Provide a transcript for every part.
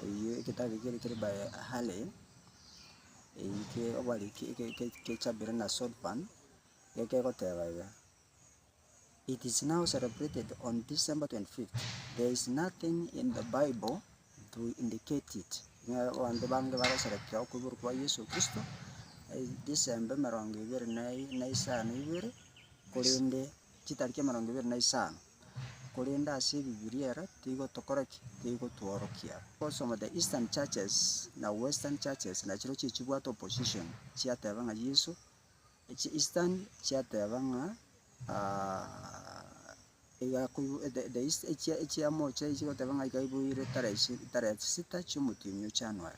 Eyio egetabu ekio kere by Halley, eyio ke obari ke ke ke kechabire na Sodpan, iga kegoteba iga, It is now celebrated on December 25th, there is nothing in the Bible to indicate it, ng'a abanto bange bagoserekea okoiborwa kwa Yeso Kristo December emerongo ebere na i- na isano ibere, korende. chitariki emerongo ebere na isano, korende ase ebibiria ere tigo tokora ki? Tigo tworokia. Because of the Eastern churches na Western churches nachiroo chie chibwate opposition chiateba ng'a Yeso, echi Eastern chiateba ng'a iga koibo the the East echia echia mocha iga chigoteba ng'a iga koiboire tarehe ishi tarehe sita chiomotienyi o January.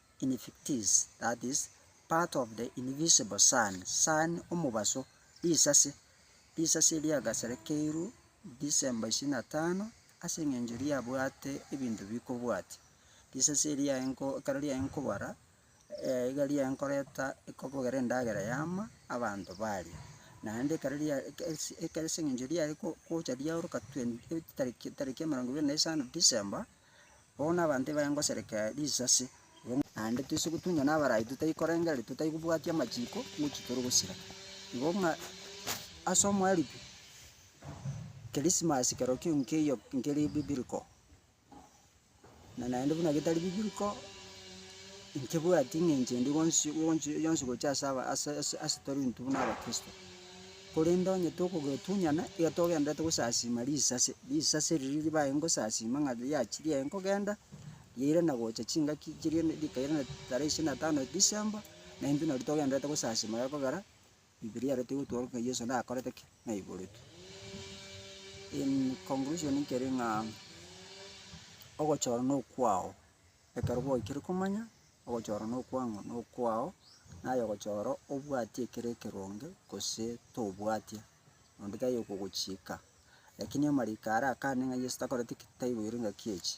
Invictus, that is, part of the invisible sun, sun omobaso, risase, risase erio riagaserekeirwe December ishirini na tano ase eng'encho riabwate ebinto bikobwatia. Risase erio riaye nko ekero riaye nkobara, iga riaye nkoreta ekobogera endagera yama abanto baria. Naende ekero ria eke ase eke ase eng'encho riaye ko- gocha riaoroka twen- eh tariki tariki emerongo ebere na isano December. Bono abanto ebaye ngosereka risasi, naende toise gotunywa nabarai totai korengereria totai kobwatia amachiiko ngochia tore gosira. Igo ng'a ase omoeribu, Christmas kerokio nkeiyo nkeri biblical, na naende buna getari biblical, nkebwati ng'a enchera endi gonsi gonsi yonsi gochia ase aba ase ase ase tore intwe buna abakristo. Korende onye tokogetunyana, iga togendererete gosasiima risase, risase riria ribaye ngosasiima ng'a riachire riaye nkogenda, riaire na gocha chingaki chiria rikaire na tarehe ishirini na tano December, na intwe nari togendererete gosasiima iga ekogera, Bibilia ere tigotwora ng'a Yeso nakorete ki? Naiboretwe. In conclusion nkere ng'a ogochora nokwao. Ekero gwaikire komanya ogochora nokwang'u nokwao, naye ogochora obwati ekero ekeronge gose tobwatia, onde taiyo okogochiika. Lakini amariiko ara akande ng'a Yeso takoreti ki, taiboire ngaki echi.